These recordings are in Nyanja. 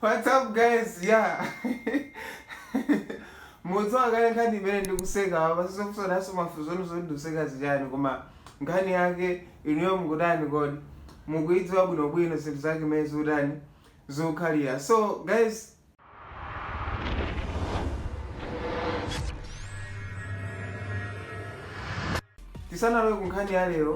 What's up guys? Yeah. Mukudziwa kale nkhani imene ndikuseka apa sizofunsanaso mafunso anu zoti ndikuseka zichani koma nkhani yake inuyo mukutani kodi mukuidziwa bwinobwino zinthu zake mene zikutani zikukhalira so guys tisanalowe ku nkhani ya lero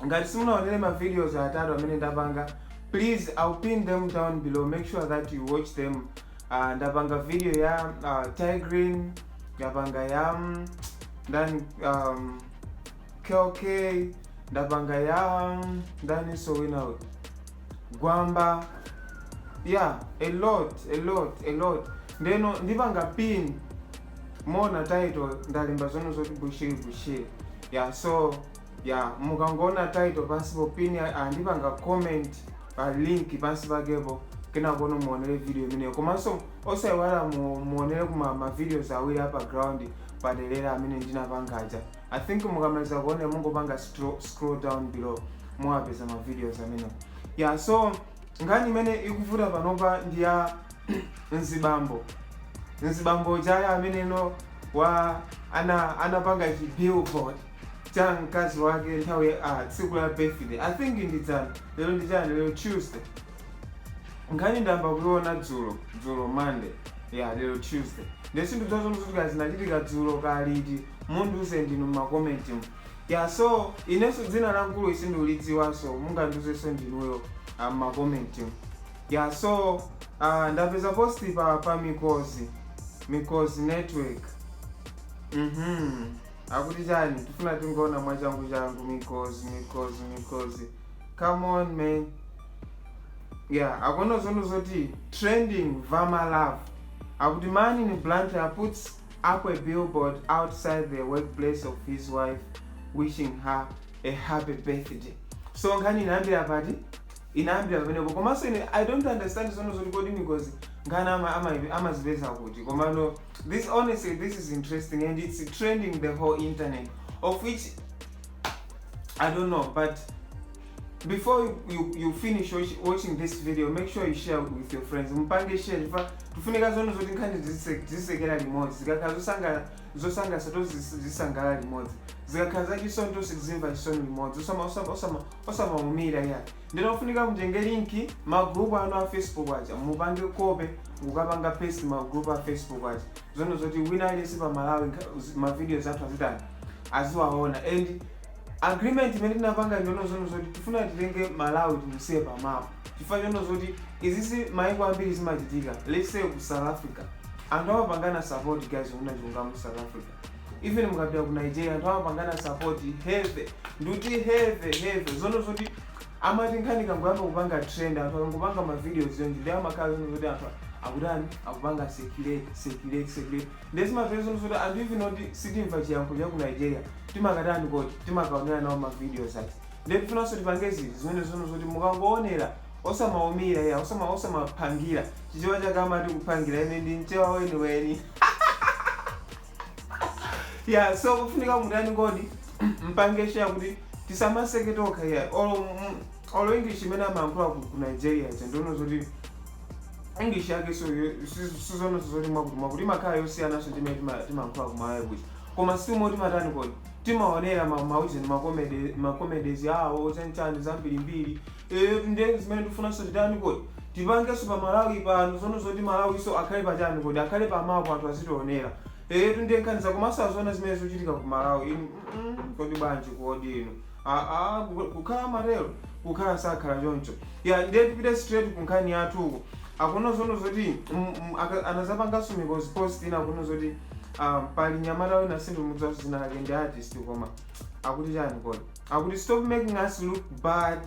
ngati simunaonere ma videos atatu amene ndapanga please i'll pin them down below make sure that you watch them uh, ndapanga video ya uh, tigreen ndapanga ya mm, ndani um, kk ndapanga ya ndaniso wina uyu gwamba yeah a lot a lot a lot ndeno ndipanga pin muona title ndalemba zone zoti bushiri bushiri yeah so yeah mukangoona title pansipo pin ya- ah, ndipanga comment pa link pansi pakepo kenakono muonere video imeneyo komanso osaiwala mu- muonere kuma ma videos awiri apa ground padelera amene ndinapanga aja I think mukamaliza kuonera mungopanga stro- scroll down below muwapeza ma videos amene yeah so nkhani imene ikuvuta panopa ndi ya mzibambo mzibambo chaya amene no wa ana anapanga chi billboard cha mkazi wake nthawi ya- ah, tsiku la birthday i think ndi dzana lero ndi chani lero tuesday nkhani ndayamba kuiona dzulo dzulo monday ya lero tuesday nde sindidziwa zono zoti kaya zinachitika dzulo kaya liti mundiuze ndinu m'makomenti mu ya so inenso dzina la mkuluyu sindikulidziwanso mungandiuzenso ndinuyo ah, m'makomenti mu ya so ah, ndapeza posti pa, pa mikozi mikozi network mhm akuti chani tifuna tingoona mwachangu changu mikozi mikozi mikozi come on man yeah akuona zono zoti trending vama love akuti man in blantyre puts up a billboard outside the workplace of his wife wishing her a happy birthday so nkhani inayambira pati inayambira pamenepo komanso ine i don't understand zono zoti kodi mikozi nkhani ama- ama- amazipeza kuti komano this honestly this is interesting and it's trending the whole internet of which I don't know, but before you, you, you finish watch, watching this video make sure you share with your friends mupange share chifukwa tifunika zone zoti nkhani zise- tizisekera limodzi zikakhala zosanga- zosangalatsa tizisangalala limodzi zikakhala zachisoni tizimva chisoni limodzi Osama- osama- osama- osamaumira ya nde kufunika mutenge linki magrupu anu a facebook aja mupange copy mukapange paste magrupu a facebook aja zono zoti wina aliyense pa Malawi nkha- zi- ma videos athu azitani aziwaona and agreement imene tinapanga ndiono zono zoti tifuna titenge Malawi timusiye pa map chifukwa chono zoti izizi maiko ambiri zimachitika let's say ku South Africa anthu amapangana support guys kunena chilungamo ku South Africa even mukapita ku Nigeria anthu amapangana support heavy nduti heavy heavy zono zoti amati nkhani ikangoyamba kupanga trend anthu akangopanga ma videos aja nde amakhala zinthu zoti anthu akutani akupanga circulate circulate circulate nde zimafika zinthu zoti anthu even oti sitimamva chiyankhulo cha ku Nigeria timakatani koti timakaonera nawo ma videos aja nde tifunanso tipange zinthu zimene zono zoti mukangoonera osamaumira ya osama osamapangira chichewa chake chamati kupangira ine ndi mchewa weniweni ya so kufunika mutani kodi mpange share kuti tisamaseke tokha ya olo mm, olo english imene amayankhula ku ku nigeria ija ndi zono zoti english yake so si zononso zoti mwakutimwakuti imakhala yosiyana ndi mmene tima- timayankhula ku malawi kuno koma si umo timatani kodi timaonera ma- ujeni makomedi- makomedezi awo chanichani zambirimbiri Eeetu ndiye zimene tikufunanso titani kodi? Tipangenso pa Malawi pano zonena zoti Malawinso akhale pa chani kodi? Akhale pa map anthu azitionera. Eetu ndiye nkhani za kumasanjana zimene zikuchitika ku Malawi inu mm kodi bwanji kodi inu aah kukh kukhala amatero? Kukhala sakhala choncho. Yah ndiye tipite straight ku nkhani yathu uku akuti zonena zoti mm mm aka anazapanganso mikozi post ina akunena zoti aah pali mnyamata wina sindikumudziwanso dzina lake ndi artist koma akuti chani kodi? Akuti stop making us look bad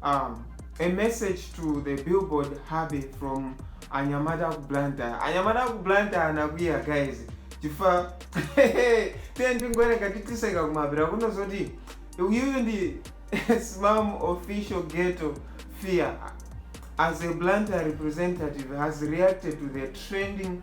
um, a message to the billboard hubby from anyamata aku blantyre anyamata aku blantyre anakwiya guys chifukwa tiye ndingowerenga tiziseka kumapeto kunena zoti uyuyu ndi smam official ghetto fear as a blantyre representative has reacted to the trending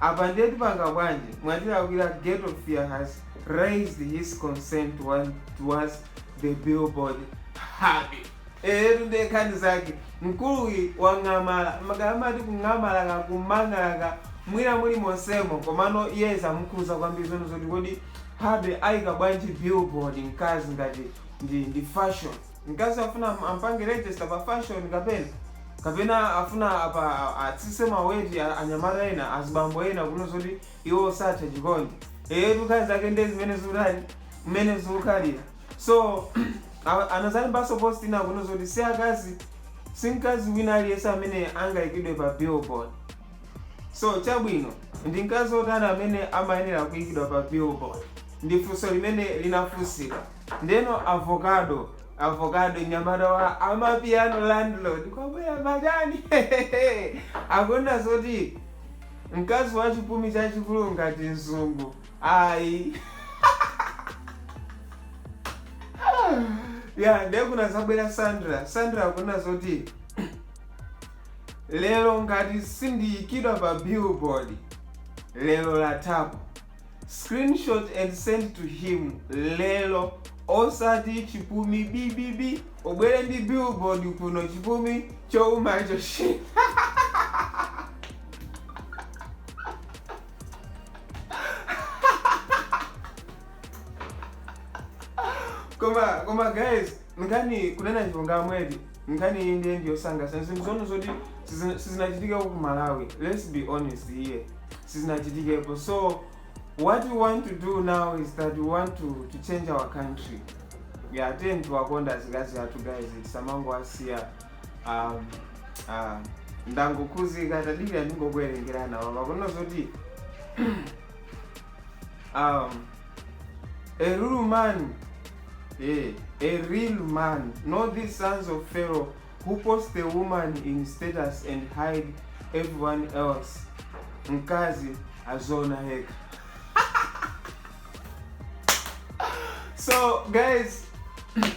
Apa ndiye tipanga bwanji? Mwatilakwira Ghetto Fear has raised his concern towards, towards the billboard hubby. Eyetu ndiye nkhani zake mkuluyi wang'amala kaya amati kung'amala kaya kumangala kaya mwina muli monsemo komano iye zamukhuza kwambiri zonena zoti kodi hubby ayika bwanji billboard mkazi ngati ndi, ndi fashion Mkazi afuna ampange register pa fashion kapena? Kapena afuna apa atsitse ma weight a anyamata ena azibambo ena kunena zoti iwo satha chikondi. Eyetu nkhani zake ndiye zimene zikutani mmene zikukhalira. So a- anazalembanso post ina kunena zoti si akazi si mkazi wina aliyense amene angaikidwe pa billboard. So chabwino ndi mkazi otani amene amayenera kuikidwa pa billboard? Ndi funso limene linafunsidwa. Ndeno avokado avokado mnyamata wa amapiano landlord kwabwera alendo akunena zoti mkazi wa chipumi chachikulu ngati mzungu ayi ya ndiye kunazabwera sandra sandra akunena zoti lero ngati sindiyikidwa pa billboard lero latha pa Screenshot and send to him lero osati chipumi bibibi ubwere ndi billboard kuno chipumi choumacho shi koma guys Nkhani kunena chilungamo eti nkhani iyi nde ndi yosangalatsa zinthu zomwe zoti sizina- sizinachitikepo ku malawi let's be honest here sizinachitikepo so what we want to do now is that we want to, to change our country yeah tiyeni tiwakonde azikazi athu guys tisamangowasiya um, uh, ndangokhuzika tadikira ndingokuwerengerana apa kunena zoti Um, a real man, eh, a real man, not these sons of Pharaoh who post the woman in status and hide everyone else. Nkazi azona hek. so guys,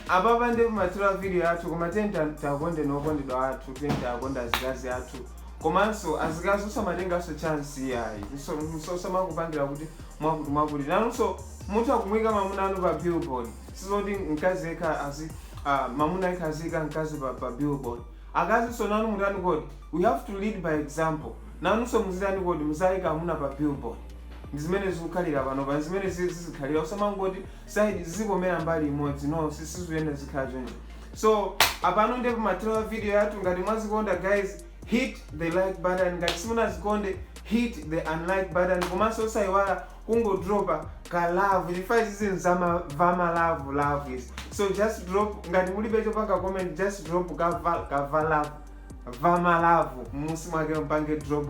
ababa ndevu matira video yathu koma tenda takonde nokondedwa athu tenda akonda zikazi athu komanso azikazi musamatengenso chance iyayi osamakupangira kuti mwakuti mwakuti nanunso mutha kumuyika mamuna wanu pa billboard sizoti mkazi yekha azi ah, mamuna yekha aziyika mkazi pa, pa billboard akazinso nanu mutani kodi we have to lead by example nanunso muzitani kodi muziyika amuna pa billboard ndi zimene zikukhalira panopa ndi zimene zi- zizikhalira usamangoti side zizikomera mbali imodzi no sizikuyenda zikhala choncho so apano nde pamathero a video yathu ngati mwazikonda guys hit the like button ngati simunazikonde hit the unlike button komanso osayiwala kungodropa ka love chifukwa izizi ndi za mavamava love is so just drop ngati mulibe chopanga comment just drop kava kava love vama love m'munsi mwake mpange drop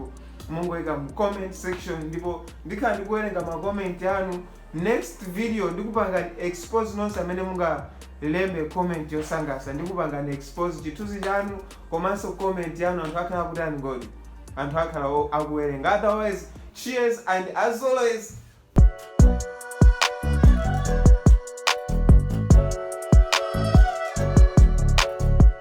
mungoyika mu comment section ndipo ndikhala ndikuwerenga ma comment anu Next video ndikupangani expose nonse amene mungalembe comment yosangalatsa ndikupangani expose chithunzi chanu komanso comment yanu anthu akhala akutani kodi anthu akhala o- akuwerenga otherwise cheers and as always